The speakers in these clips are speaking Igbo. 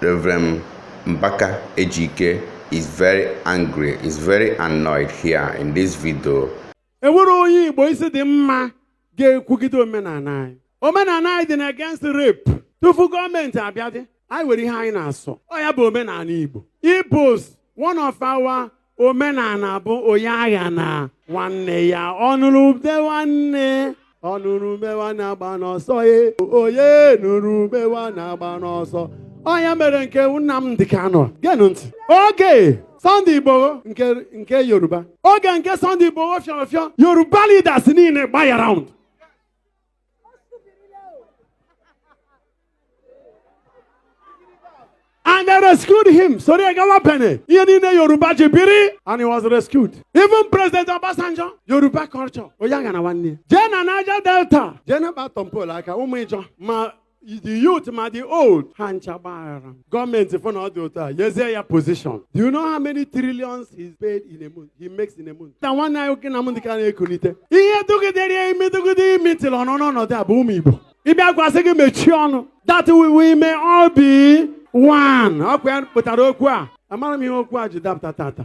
Rev. Mbaka Ejike is very angry, is very annoyed here in this video. enwere onye igbo isi dị mma ga-ekwugide omenala anyị omenala anyị dị na against rape tupu gọọmenti abịadị anyị nwere ihe anyị na-asọ ọ ya bụ omenala igbo igbos one of our omenala bụ onye aghana nwanne ya ọ nụrụ ube nwanne ọ nụrụ ube nwanne agbana ọsọ ye onye nụrụ ube nwanne agbana ọsọ ọ ya mere nke Nnamdi Kanu geenụ ntị oge Sunday Igboho nke Yoruba oge nke Sunday Igboho fịọrọ fịọ Yoruba leaders niile gbaa ya round And they rescued him. Sorry, I got penny. Ihe niile Yoruba ji biri and he was rescued. Even President Obasanjo, Yoruba culture. Onye aghana nwanne. Jee na Niger Delta. Jee na ba Tompolo aka ụmụ Ijaw ma the youth ma the old ha ncha gbaghara gọọmenti fụ na ọ dị otu a nyezie ya position do you know how many trillions he's paid in a month he makes in a month na nwanne anyị nwoke Nnamdi Kanu ekunite ihe dụgidere ya imi dụgide imi tịrị ọnụ n'ọnọdụ a bụ ụmụ igbo ịbịakwa sị gị mechie ọnụ that we we may all be one ọ kwa ya kpụtara okwu a amara m ihe okwu a ji dapụta taata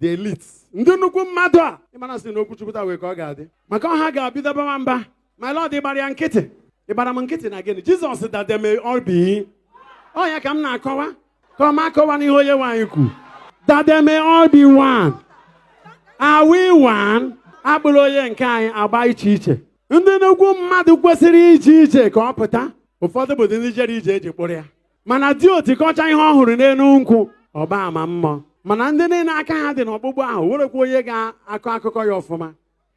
the elite ndị nnukwu mmadụ a ịmana si na okwuchukwu taa wee ka ọ ga-adị maka ọha ga-abido bawa mba my lord ị gbara ya nkịtị ị gbara m nkịtị na gịnị jizọs that they may all be ọ ya ka m na-akọwa ka ọ ma akọwa n'ihe onyenwe anyị kwu that they may all be one are we one a kpụrụ onye nke anyị agba iche iche ndị nnukwu mmadụ kwesịrị ije ije ka ọ pụta ụfọdụ bụ ndị jere ije eji kpụrụ ya mana di oti kọchaa ihe ọ hụrụ n'elu nkwụ ọ gbaa ama mmụọ mana ndị niile aka ha dị n'ọkpụkpụ ahụ nwerekwa onye ga-akọ akụkọ ya ọfụma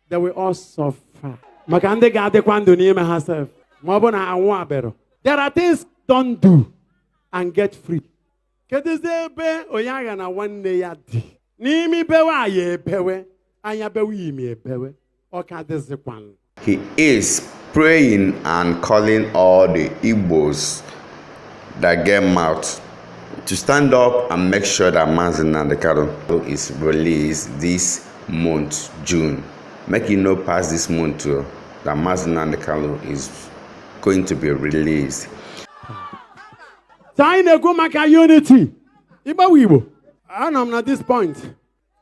they will all suffer maka ndị ga-adịkwa ndụ n'ime ha sef ma ọ bụ na anwụbero there are things don't do and get free kedụzi ebe onye aghana nwanne ya dị n'imi bewe anya ebewe anya bewe imi ebewe ọ ka dịzịkwanụ He is praying and calling all the Igbos that get mouth to stand up and make sure that Mazi Nnamdi Kanu is released this month, June. Make e no pass this month o, that Mazi Nnamdi Kanu is going to be released. Taa anyị na-ekwu maka unity. Igbo bụ Igbo. Anọ m na this point.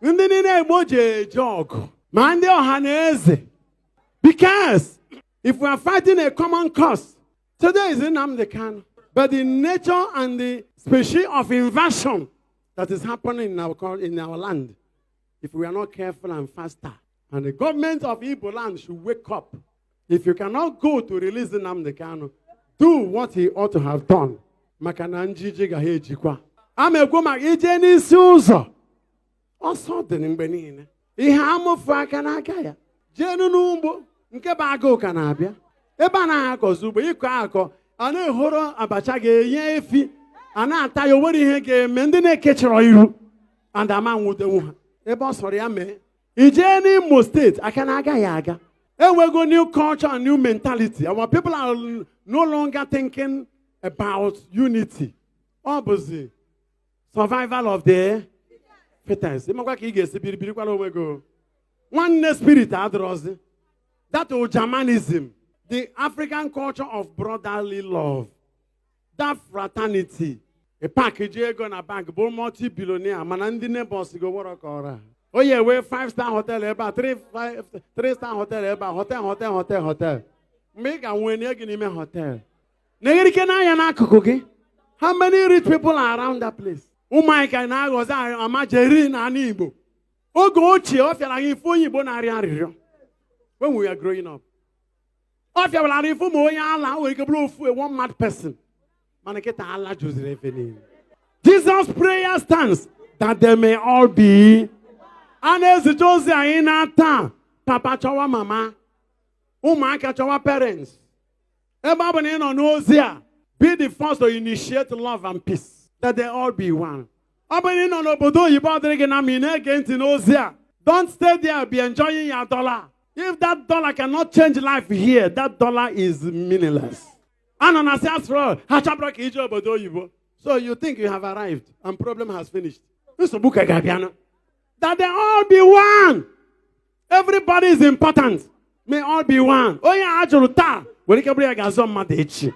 ndị niile igbo ji eje ọgụ ma ndị Ọhaneze because if we are fighting a common cause today is Nnamdi Kanu but the nature and the species of invasion that is happening in our land if we are not careful and faster And the government of Igbo land should wake up. If you cannot go to release Nnamdi Kanu, do what he ought to have done. Maka na njiji ga ha ejikwa. A ma-ekwu maka ije n'isi ụzọ. Ọsọ dị mgbe niile. Ihe amụfu aka n'aka ya. Jeenụ n'ugbo nke bụ agụụ ka na-abịa. Ebe a na-akọzi ugbo ịkọ akọ a na-ehoro abacha ga-enye efi a na-ata ya o nwere ihe ga-eme ndị na-ekechọrọ iru and ama nwudenwu ha ebe ọ sọrọ ya mee i jee n'imo steeti aka na agaghị aga enwego new culture and new mentality our people are no longer thinking about unity ọ bụzi survival of the fittest ịmakwa ka ị ga-esi biri birikwala onwe gị o. nwanne spirit adịrọzi that ujamaanism the african culture of brotherly love that fraternity ị pak ji ego na bank bụ multi billionaire mana ndị neighbors gị wọrọ ka ọra o ya ewee 5 star hotel ebe a 3 five- 3 star hotel ebe a hotel hotel hotel hotel mgbe ị ga-nwee nye gị n'ime hotel na-eghere ike n'anya n'akụkụ gị how many rich people are around that place ụmụaka na-aghọzi almajiri n'ala igbo oge ochie ọ fịara gị ịfụ onye igbo na-arịọ arịrịọ when we were growing up ọ fịaburu arụ ịfụ ma onye ala o nwere ike bụrụ ofu a one mad person mana kịta ala juziri ebe niile Jesus prayer stands that they may all be a na-ezite ozi anyị naa taa papa chọwa mama ụmụaka chọwa parents ebe ọ bụ na ị nọ n'ozi a be the first to initiate love and peace that they all be one ọ bụrụ ị nọ n'obodo oyibo ọ dịrị gị na mma ị na-ege ntị n'ozi a don't stay there be enjoying your dollar if that dollar cannot change life here that dollar is meaningless a nọ na si asụrụ ha chọbụrụ ka ije obodo oyibo so you think you have arrived and problem has finished nsogbu ka ga-abịanụ that they all be one everybody is important may all be one onye a jụrụ taa nwere ike bụrụ ya ga-azọ mmadụ echi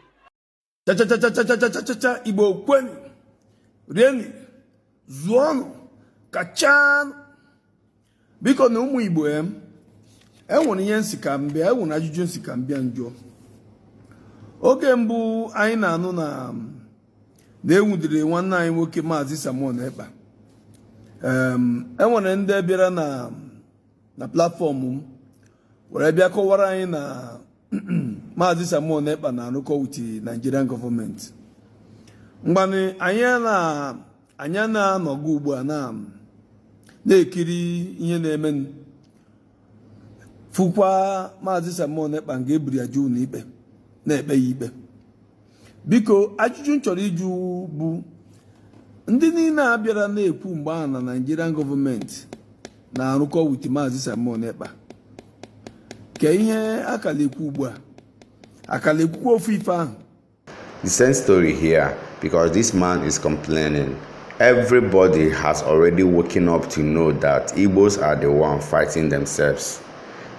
chachachachachachachacha igbo kwenụ rienụ zụọnụ kachanụ bikonụ ụmụ igbo em enwere ihe m sị ka m bịa enwere ajụjụ m sị ka m bịa m jụọ oge mbụ anyị na-anụ na na e nwudere nwanne anyị nwoke maazị Simon Ekpa enwere ndị bịara na na platfọm m were bịa kọwara anyị na maazị Simon Ekpa na-arụkọ with Nigerian gọọmenti ngwanụ anyị na anyị na-anọgo ugbu a na na-ekiri ihe na-eme fụkwa maazị Simon Ekpa nga e buru ya jee ụnọ ikpe na-ekpe ya ikpe biko ajụjụ m chọrọ ịjụ bụ ndị niile a bịara na-ekwu mgbe ahụ na Nigerian gọọmenti na-arụkọ wit Maazị Simon Ekpa kee ihe a ka la-ekwu ugbu a a ka la-ekwukwa ofu ife ahụ The same story here because this man is complaining. Everybody has already woken up to know that Igbos are the one fighting themselves.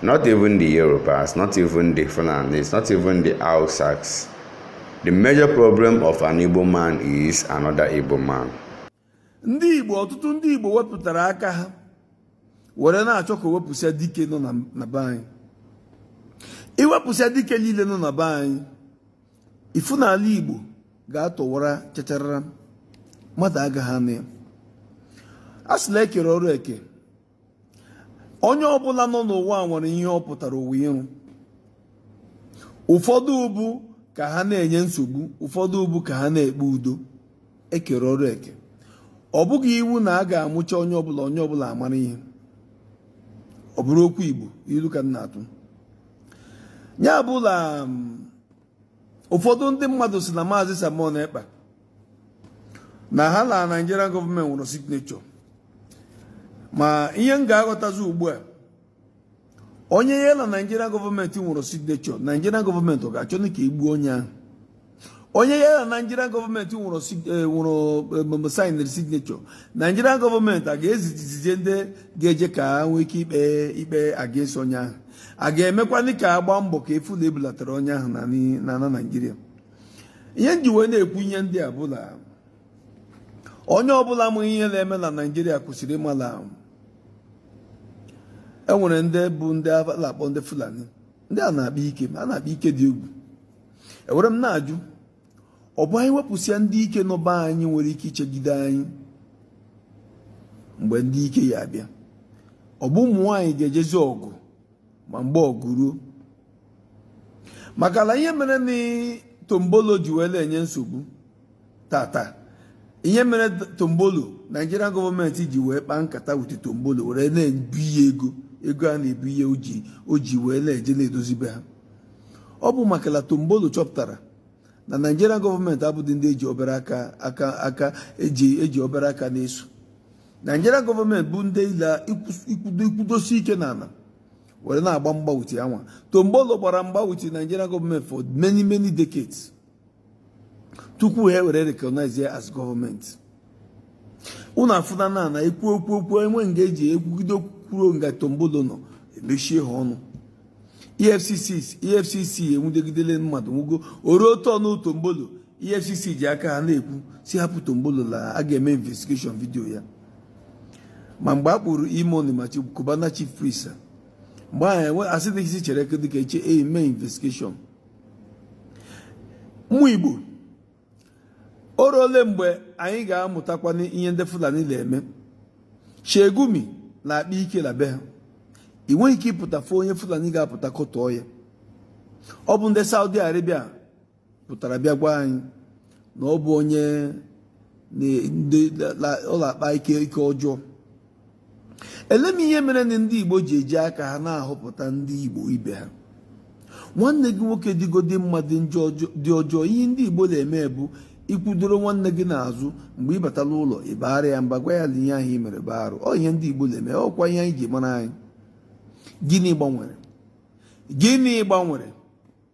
Not even the Yorubas, not even the Fulanis, not even the Hausas. The major problem of an Igbo man is another Igbo man. Ndị Igbo ọtụtụ ndị Igbo wepụtara aka ha were na-achọ ka e wepụsịa dike nọ na be anyị. I wepụsịa dike niile nọ na be anyị, ị fụ na ala Igbo ga-atọwara chacharara mmadụ agaghị anọ ya. A sị la e kere ọrụ eke. onye ọbụla nọ n'ụwa nwere ihe ọ pụtara ụwa ịrụ ụfọdụ bụ ka ha na-enye nsogbu ụfọdụ bụ ka ha na-ekpe udo e kere ọrụ eke ọ bụghị iwu na a ga-amụcha onye ọbụla onye ọbụla amara ihe ọ bụrụ okwu Igbo ilu ka m na-atụ ya bụ la ụfọdụ ndị mmadụ sị na maazị Simon Ekpa na ha na Nigerian gọọmenti nwere signature ma ihe m ga-aghọtazi ugbu a onye ya na Nigerian gọọmenti nwere signature Nigerian gọọmenti ọ ga-achọ ka e gbuo onye ahụ onye ya na Nigerian gọọmenti nwere eh, eh, sainere signature Nigerian gọọmenti a ga-ezizije ndị ga-eje ka ha nwee ike ikpe ikpe against onye ahụ a ga-emekwanị ka a gba mbọ ka a fụ na e bulatara onye ahụ n'ala Naịjirịa ihe m ji wee na-ekwu ihe ndị a bụ la onye ọbụla amaghị ihe na-eme na Naịjirịa kwesịrị ịma la e nwere ndị bụ ndị a na-akpọ ndị Fulani ndị a na-akpa ike ma a na-akpa ike dị egwu ewere m na-ajụ ọ bụ anyị wepụsịa ndị ike nọ be anyị nwere ike ichegide anyị mgbe ndị ike ya-abịa ọ bụ ụmụ nwaanyị ga-ejezi ọgụ ma mgbe ọgụ ruo maka na ihe mere na Tompolo ji wee na-enye nsogbu taata ihe mere Tompolo Naịjirịa gọọmenti ji wee kpaa nkata with Tompolo were na-ebunye ego ego a na-ebunye o ji wee na-eje na-edozi be ha ọ bụ maka na Tompolo chọpụtara na Nigerian gọọmenti abụghị ndị e ji obere aka aka e ji obere aka na-eso Nigerian gọọmenti bụ ndị i na-ekwudosi ike n'ala were na-agba mgba with ha nwa Tompolo gbara mgba with Nigerian gọọmenti for many many decades tupu ha ewere recognize ya as gọọmenti unu afụna na a na-ekwu okwu enwe nga eji ekwugide kwuo nga tombolo nọ emechie ha ọnụ efcc enwudegidele mmadụ nwugo o ruo turn tombolo efcc ji aka ha na-ekwu si hapụ tombolo la a ga-eme investigation video ya ma mgbe a kpụrụ e-money ma cubana chief priest mgbe ahụ enwe asị dịghịzi chere dịka eche eme investigation ụmụ igbo o ruole mgbe anyị ga-amụtakwa ihe ndị fulani na-eme sheikh gumi na-akpa ike na be ha ị nweghị ike ịpụta fụ onye fulani ga-apụta kọtọọ ya ọ bụ ndị saudi arabia pụtara bịa gwa anyị na ọ bụ onye ọ na-akpa ike ọjọọ ele m ihe mere na ndị Igbo ji eji aka ha na-ahọpụta ndị Igbo ibe ha nwanne gị nwoke dịgodi mmadụ dị ọjọọ ihe ndị Igbo na-eme bụ ikwudoro nwanne gị n'azụ mgbe ị batala ụlọ ị baara ya mba gwa ya na ihe ahụ i mere bụ arụ ọ ihe ndị Igbo na-eme ọ kwa ihe anyị ji mara anyị gịnị gbanwere gịnị gbanwere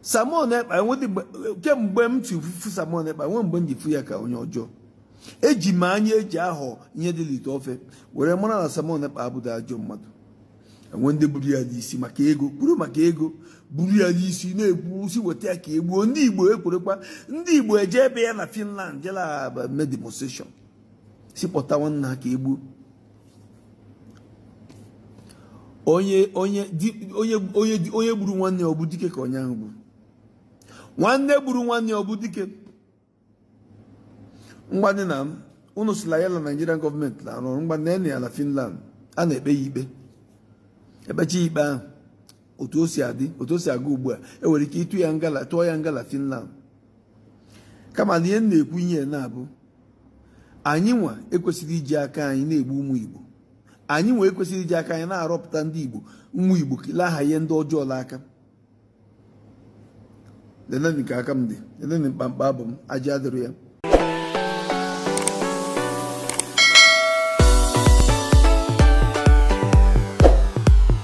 Simon Ekpa kemgbe m si fụ Simon Ekpa nwe mgbe m ji fụ ya ka onye ọjọọ eji m anya eji ahọ ihe dị n'ite ofe were mara na Simon Ekpa abụghị ajọ mmadụ enwe ndị buru ya n'isi maka ego buru maka ego buru ya n'isi na-ekwu sị weta ya ka egbuo ndị Igbo ekwerekwa ndị Igbo eje ebe ya na Finland jela mee demonstration sị kpọta nwanna ha ka egbuo onye onye onye gburu nwanne ya ọ bụ dike ka onye ahụ gburu nwanne gburu nwanne ya ọ bụ dike mgbadị na m unu sị la ya na Nigerian gọọmenti na-arụ ọrụ mgbadị na ya na Finland a na-ekpe ya ikpe e kpechaa ikpe ahụ otu o si aga ugbu a enwere ike ịtụ ya nga la Finland kama na ihe m na-ekwu ihe na-abụ anyị nwa ekwesịrị iji aka anyị na-egbu ụmụ Igbo anyị nwa ekwesịrị iji aka anyị na-arọpụta ndị Igbo ụmụ Igbo la-ahanye ndị ọjọọ n'aka leneni ka aka m dị leneni mkpamkpa abụ m aja adịrị ya